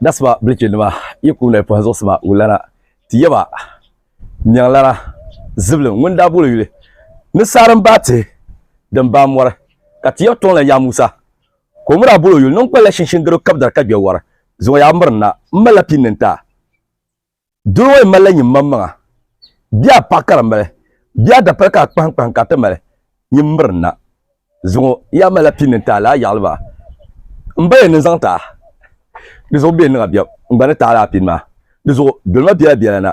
Dasima bilichinima yi kum lahi pɔhi zuɣusima wulana ti yaba nyaŋlana zibili ŋun daa boli yuli ni saara m-baai tihi din baai mɔri ka ti yaba tɔŋla Yaa Musa ka o mi daa boli o yuli ni n kpalila shinshin garo kabidari ka gbɛ wari zuŋɔ yaa miri n na m malila pini ni n ta Doo ŋɔ yi malila nyin maŋmaŋa, bɛ a paɣa karimbali, bɛ a dapali ka a kpahiŋkpahiŋ ka a ti mali nyin mirina zuŋɔ, yi a malila pini n-taali a yaɣili ba m ba ya ni zaŋ ti a, di zuɣu bɛ ni niŋa biɛm n-gba ni taali a pini maa, di zuɣu dolima bela bela na,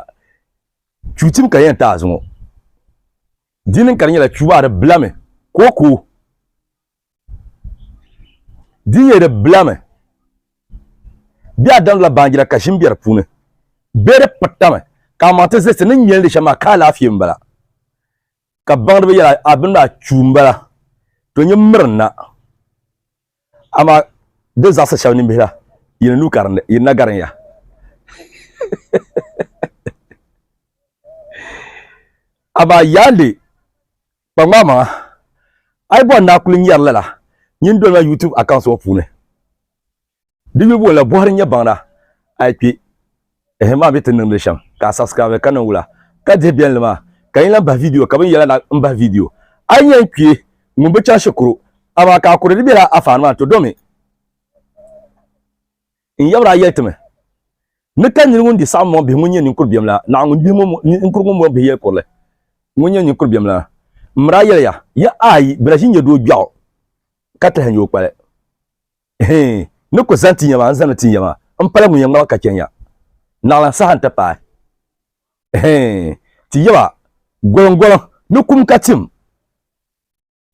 chuutim ka di yɛn taai zuŋɔ, di niŋ ka di nyɛla chuubaari bilami kookoo. Di nyɛ di bilami. Bɛ daa damdila baanjira ka ʒim be di puuni, bee di pirtami, ka amaa ti zilisi ni nyɛlindi shɛm maa ka alaafee m-bala, ka baŋdi bɛ yɛla a bini maa chuu m-bala, to nyin mirinna, amaa di zaɣisi shɛb nimbihi la, yi ni lu karindi, yi ni na garin ya. Amaa yaandi! Kpaŋmaŋ maŋa, a yi bɔri ni a kuli nyari lala, nyin doli ma YouTube account ŋɔ puuni. Di yubu la bɔhiri n-nyɛ baŋda a yi kpi ehe maa mi ti niŋdili shɛm ka a subscribe ka niŋ wula ka dihi biɛlli maa ka yin lan bahi video ka bɛ ni yɛla na m bahi video. A yi nya n kpi ŋun bi chaŋ shikuru amaa ka a kuri di bela a faani maa n-ti do mi. N yabra a yɛlitimi ni ka niri ŋun di saɣim mɔɣu bihi ŋun nyɛ ninkur biɛm la naɣ ŋun gbihi ninkur ŋun mɔɣu bihi yɛli kurili ŋun nyɛ ninkur biɛm la. M miri a yɛliya, ya ayi bɛ la ʒi nyɛdoo gbiɛɣu ka tilihi ni o kpali. Hi ni ku zaŋ ti ya maa n zaŋmi ti ya maa m pala ŋun yɛn ŋmaligi ka chɛ ya naɣilan saha nti paai hi ti yaba goliŋgoliŋ ni kum ka tim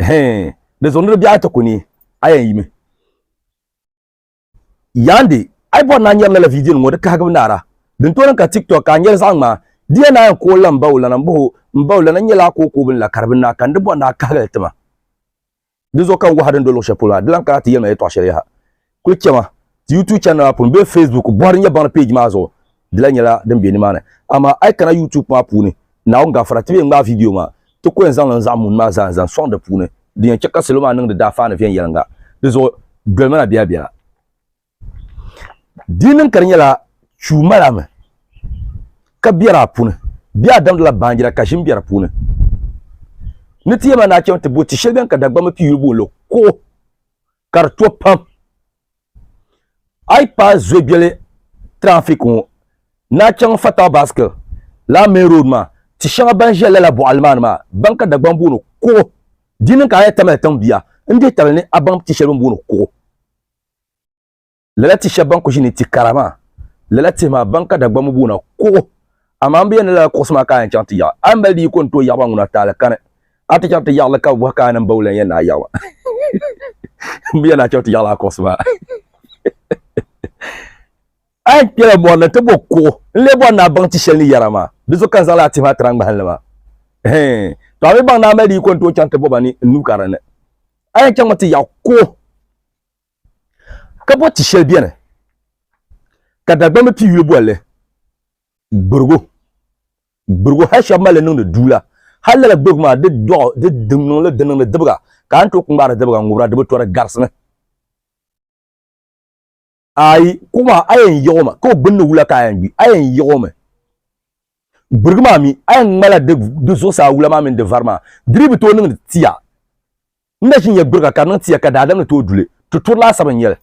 hi di zuɣu ni di biɛɣu ti ku ni a yɛn yimi. Yaandi, a yi bɔri ni a nyari lala vidiyo ŋɔ di kahigibu naara, din tooi niŋ ka TikTok ka a nyari zaɣi ŋmaa, di ya naai n-kooi la m-ba o lana m-bɔh o, m-ba o lana n-nyɛla a kookoo bini la ka di bi naai ka n di bɔri ni a kahigi li tima. Di zuɣu ka n waha din do luɣi shɛli polo maa, di lan kana ti yɛli ma yɛtɔɣ shɛli yaha. Kuli chɛ ma ti YouTube channel maa puuni bee Facebook bɔhiri nyɛbaŋli page maa zuɣu di la nyɛla din be nimaani. Amaa a yi kana YouTube maa puuni, Naawuni Gafara, ti be ŋmaai vidio maa, ti ko yɛn zaŋ niŋ zaɣ mun maa zaa n-zaŋ sɔŋ di puuni, din yɛn chɛ ka salo maa niŋdi daafaani viɛnyɛliŋga. Di zuɣu doli ma na biɛlabiɛla. Di yi niŋ ka di nyɛla chuu mali a mi ka biɛri a puni, bee a damdila baanjira ka ʒim be di puuni, ni ti yɛli ma ni a chaŋ ti bo ti shɛli bɛn ka Dagbamba piyuli booni li kuɣu ka di to pam. A yi paai zuegbeli tirafik ŋɔ ni chaŋ Fatal Basque lala main road maa, ti shɛŋa ban ʒe lala bɔɣili maa ni maa baŋ ka Dagbaŋ booni kuɣu. Di niŋ ka a yɛn tamila tiŋ bia n-dihi tabili ni a baŋ ti shɛli bɛ ni booni kuɣu. Lala ti shɛba ban ku ʒi ni ti kara maa, lala tihi maa ban ka Dagbamba boona kuɣu. Amaa m bi yɛn ni lala kuɣusi maa ka a yɛn chaŋ ti yaɣi. A ni mali di yiko n-ti o yaɣiba ŋuna a taali kani. A ti chaŋ ti yaɣi li ka bɛ bɔhi ka a ni m-ba wula n-yɛn ni a yaɣi ba? M bi yɛn ni a chaŋ ti yaɣila a kuɣusi maa. A yɛn kpela mɔri ni ti bo kuɣu n-lee bɔri ni a baŋ ti shɛli ni yɛra maa. Di zuɣu ka n zaŋ lala tihi maa tiri a ŋmahinli maa. Hɛɛn! To a mi baŋ ni a mali di yiko n-ti o chaŋ ti bo ba ni n-nuu ka di ni. A yɛn chaŋmi ti yaɣi kuɣu. Ka bo ti shɛli beni ka Dagbamba pi yuli boli li Gbirigu. Gbirigu hali shɛba mali li niŋdi duu la. Hali lala Gbirigu maa di dɔɣi di niŋli di niŋdi dibiga ka a ni tooi ku ŋmaari dibiga n-ŋubira di bi to di garisimi. Ayi, kuɣu maa a yɛn yiɣi o mi ka o gbunni wula ka a yɛn gbi, a yɛn yiɣi o mi. Gbirigu maa mi a yɛn ŋmala di zuɣusaa wula maa mini di vari maa di dii bi tooi niŋdi tia. N na ʒi n ya gburiga ka niŋ ti ya ka daadam ni tooi duli. Tuturi laasabu n-nyɛ li.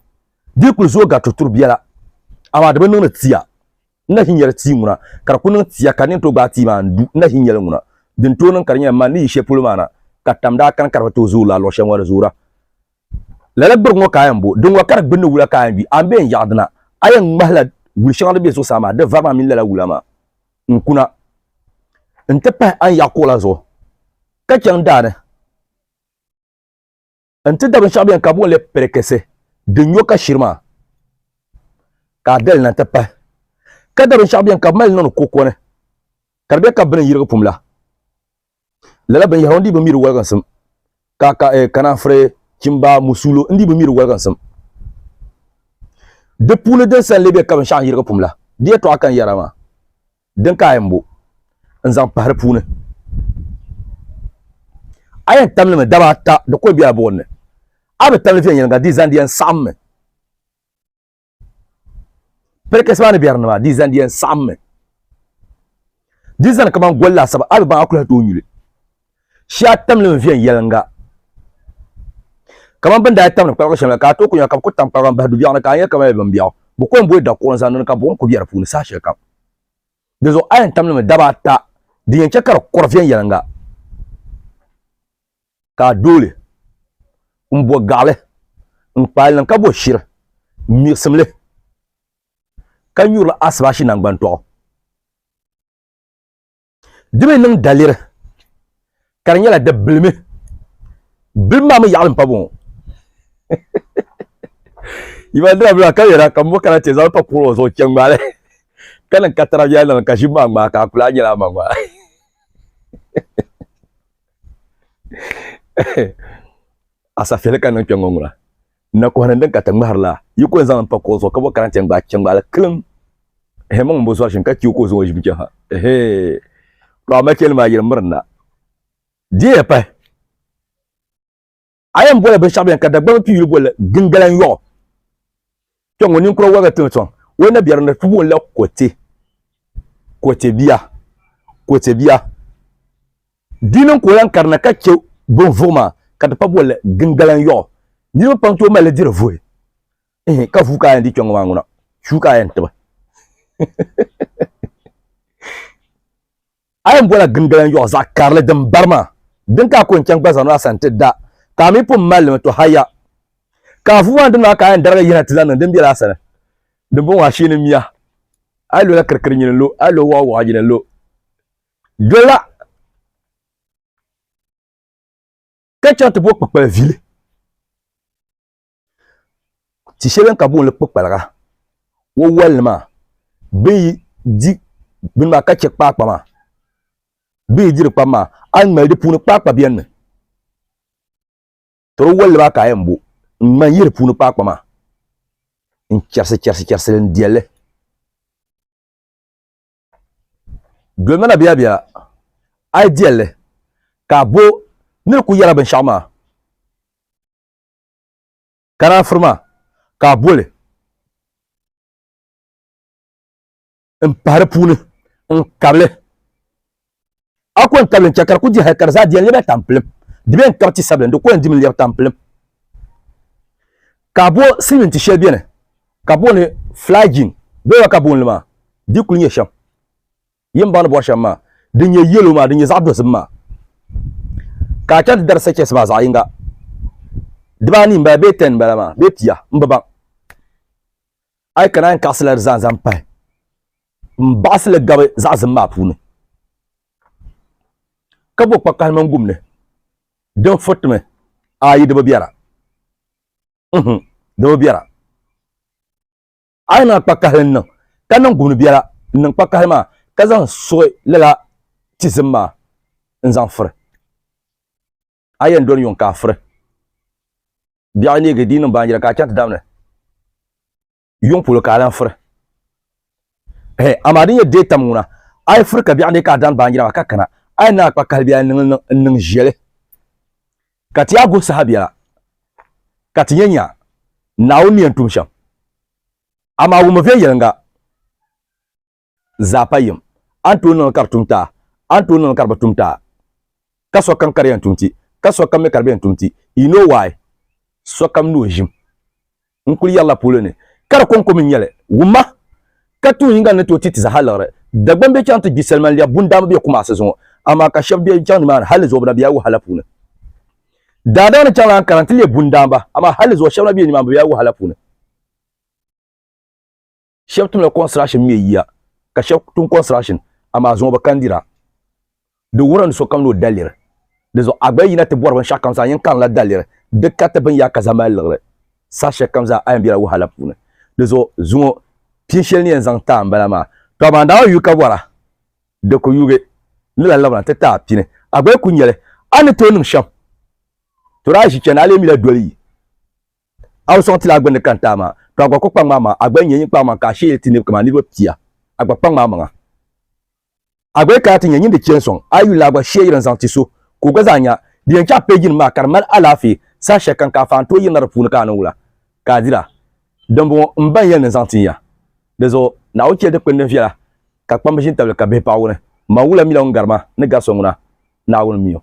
Di yi kuli zooi gari tuturi biɛla, amaa di bi niŋdi ti ya. N na ʒi n ya di tia ŋuna ka di kuli niŋ ti ya ka di ni tooi gbaai tia maa n-du. N na ʒi n ya li ŋuna. Di ni tooi niŋ ka di nyɛla mani ni yi shɛli polo maa na ka tam daa kani ka di bi tooi zooi lala luɣ shɛli ŋɔ di zoora. Lala gburiga ŋɔ ka a yɛn bo. Di ŋɔ ka di gbunni wula ka a yɛn gbi. A ni bee n yaɣi dina, a yɛn ŋmahila wul shɛŋa din be zuɣusaa maa, di vari maa mini lala wula maa n-kuna n-ti pahi a ni yaɣi kuɣu la zuɣu ka chaŋ daa ni. n ti da binshɛɣu bɛni ka boonli pirikisi din nyo ka shiri maa ka a dali na ti pahi ka da binshɛɣu bɛni ka bi mali niŋdi koko ni ka di bɛ ka bi ni yirigi pum la lala binyahari n dii bi mi di woliginsim ka ka eh, kananfiri chimba musulo n dii bi mi di woliginsim di puuni din san lee bɛ ka binshɛɣu n yirigi pum la di yɛtɔɣa kan yɛra maa Din ka a yɛn bo n-zaŋ pahi di puuni? A yɛn tam li mi daba ata di kɔli be a buɣim ni. A bi tam li viɛnyɛliŋga di zani di yɛn saɣim mi. Pirikisi maa ni biɛrinima di zani di yɛn saɣim mi. Di zani kaman goli laasabu a bi baŋ a kuli hal tooi nyu li. shee a tamli n viɛnyɛlinga kamani bin daa tamdi kpalgu shɛm la ka a tooi ku nya ka bi ku tam kpalgu n bahi dubiɛɣu ni ka a nya kamani bimbiɛɣu bi ko n boli dakuɣu n zaŋ niŋdi ka buɣum ku bɛ di puuni saha shɛli kam dinzuɣu a yɛn tam limi daba ata din yɛn chɛ ka di kuri viɛnyɛlinga ka a dooli n bo gaɣali n kpaali niŋ ka bo shiri n miɣisimli ka nyurili asibashi nangbani tɔɣu di mi niŋ daliri ka di nyɛla di bilimi bilimi maa mi yaɣali n pa bɔŋɔ yimandira bila ka yɛra ka mbo kana ti zaŋ pa kuɣu zuɣu chɛ ŋmaali ka niŋ ka tara biɛla niŋ ka ʒi maa ŋmaa ka a kula nyɛla a ma ŋmaa asafeli ka niŋ kpɛ ŋɔ ŋuna N na kɔhiri n din ka ti ŋmahiri la, yi ko n-zaŋ li m-pa kuɣa zuɣu ka bɔ karante n-gbaai chɛŋgbaali kiliŋ. Ehe, mɔŋ m-bo zɔr'shini ka ti o ka o zaŋ o ʒim chɛ ha. Ehe, paɣ machɛnli maa yiri miri na. Dihiya pahi, a yɛn bɔla binshɛɣu bɛn ka Dagbamba pii yuli boli Gingalan yɔɣu. Kpɛŋ ŋɔ ninkura wɔbiga tiŋ sɔŋ, o ni na biɛri ni ti booni la Kɔte, Kɔtebia, Kɔtebia. Di niŋ ka o lan karina ka chɛ binvuɣu maa ka ti pa bolli gingalan yɔɣu. Niriba pam tooi mali diri vuhi. Ihi ka vuu ka a yɛn di kpɛŋɔ maa ŋuna, shuu ka a yɛn tibi. A yɛn bola gingalan yɔɣu zaɣ karili din bari maa, din ka a ku yɛn chaŋ gba zaŋ na a sani ti da, ka a mi pun mali li mi tɔ haya. Ka a vuu maa ni di maa ka a yɛn darigi yina ti lan niŋ din bela a sani. Dimbɔŋɔ a sheeni miya, a yi lo la kirikiri nyini lo, a yi lo waɣu waɣu nyini lo. Dola ka chaŋ ti bo kpukpali vili ti shɛli ka booni kpukpaliga wo wali maa bi yi di bini maa ka chɛ kpaakpa maa bi yi diri kpam maa a ni mali di puuni kpaakpa biɛni mi toro wali maa ka a yɛn bo n ŋma n yihi di puuni kpaakpa maa n chɛrisi chɛrisi chɛrisi n diɛlli Dolimi na biɛbiɛla, a yi diɛl li, ka a bo ni di ku yɛla binshɛɣu maa, ka naan firi ma, ka a bo li m-pahi di puuni n-kab li. A ko n tabili n chɛ ka di ku di hal ka di zaa di yɛn lɛbila tampilim. Di bɛn kab ti sabila, di ku yɛn dimi lɛbi tampilim. Ka a bo silimiin ti shɛli beni ka booni flagyne, bɛla ka booni li maa? Di kul nyɛ shɛm. Yi ni baŋ ni bɔri shɛm maa, din nyɛ yellow maa, din nyɛ zaɣ dozim maa. Ka a chaŋ ti dari sachets maa zaɣ yiŋga. Dibaa anii m-bala bee ten m-bala maa bee pia, m bi baŋ. A yi kana a yɛn kaɣisila di zaa n-zaŋ pahi. N baɣisi li gabi zaɣisim maa puuni, ka bo kpakahili mini gumni din furitimi ayi di bi biɛra. Uhum, di bi biɛra. A yi niŋla kpakahili n-niŋ, ka niŋ gumni biɛla n-niŋ kpakahili maa, ka zaŋ suɣi lala tizim maa n-zaŋ furi. A yɛn doli yuŋ ka a furi. Biɛɣu neegi di yi niŋ baanjira ka a chaŋ ti dam ni. yuŋ polo ka a lan firi. Hɛ, amaa di nyɛ deetam ŋuna, A yi firi ka biɛɣu ni ka a dani baanjira maa ka kana, a yi naai kpa kahili bee a yi niŋ li niŋ n-niŋ ʒiɛli, ka ti yaa guhi saha biɛla, ka ti nya nya, Naawuni ni yɛn tum shɛm. Amaa wummi viɛnyɛliŋga. zaapa yim. A ni tooi niŋ li ka di tum ti a, a ni tooi niŋ li ka di bi tum ti a. Ka sokam ka di yɛn tum ti, ka sokam mi ka di bi yɛn tum ti. You know why? Sokam ni o ʒim. N kuli yɛrila polo ni ka di kɔŋko mi n-nyɛ li. Wumma! Ka tuun yiŋga ni ni tooi ti ti zaha liɣiri. Dagbaŋ be chaŋ ti gbi salima n-lɛbi bundamba be Kumasi zuŋɔ, amaa ka shɛba be chaŋ nimaani hali zuɣu bɛ na be wahala puuni. Daadam ni chaŋ lan kana nti lɛbi bundamba, amaa hali zuɣu shɛba na be nimaani bɛ be wahala puuni. shɛba tumla construction mɛ yiya ka shɛba tum construction amaa zuŋɔ bi kandira di wuhirila ni sokam ni o daliri di zuɣu a gba yi yina ti bɔri binshɛɣu kam zaa a yɛn karimla daliri di kariti bini yaa ka zaŋ mali liɣiri saha shɛli kam zaa a yɛn bela wahala puuni di zuɣu zuŋɔ pini shɛli ni yɛn zaŋ taai m-bala maa to amaa daa yuui ka bɔra di ku yuugi ni lan labina ti taai pini a gba yi ku nyɛli a ni tooi niŋ shɛm to daa ʒi chani a lee mi la doli yi A bi sɔŋ ti la a gbinni ka n-taai ma, tɔ a gba kul kpaŋm a maŋa, a gba yi nya nyin kpaŋmaŋ ka a sheei ti niriba kaman niriba pia, a gba kpaŋm a maŋa. A gba yi kana ti nya nyin di chɛ n-sɔŋ a yuli ni a gba sheei yiri n-zaŋ ti so ka o gba zaa nya. Di yɛn chaɣ pee jinim maa ka di mali alaafee, saha shɛl kam ka a faan tooi yirina di puuni ka a niŋ wula ka a dira? Dimbɔŋɔ m ba n yɛli ni n zaŋ tin ya. Di zuɣu Naawuni chɛli dikpini din viɛla ka kpamba ʒi n-tabili ka bihi paɣ wuni. M ma wula mi la ŋun gari ma ni gari so ŋuna, Naawuni mi o.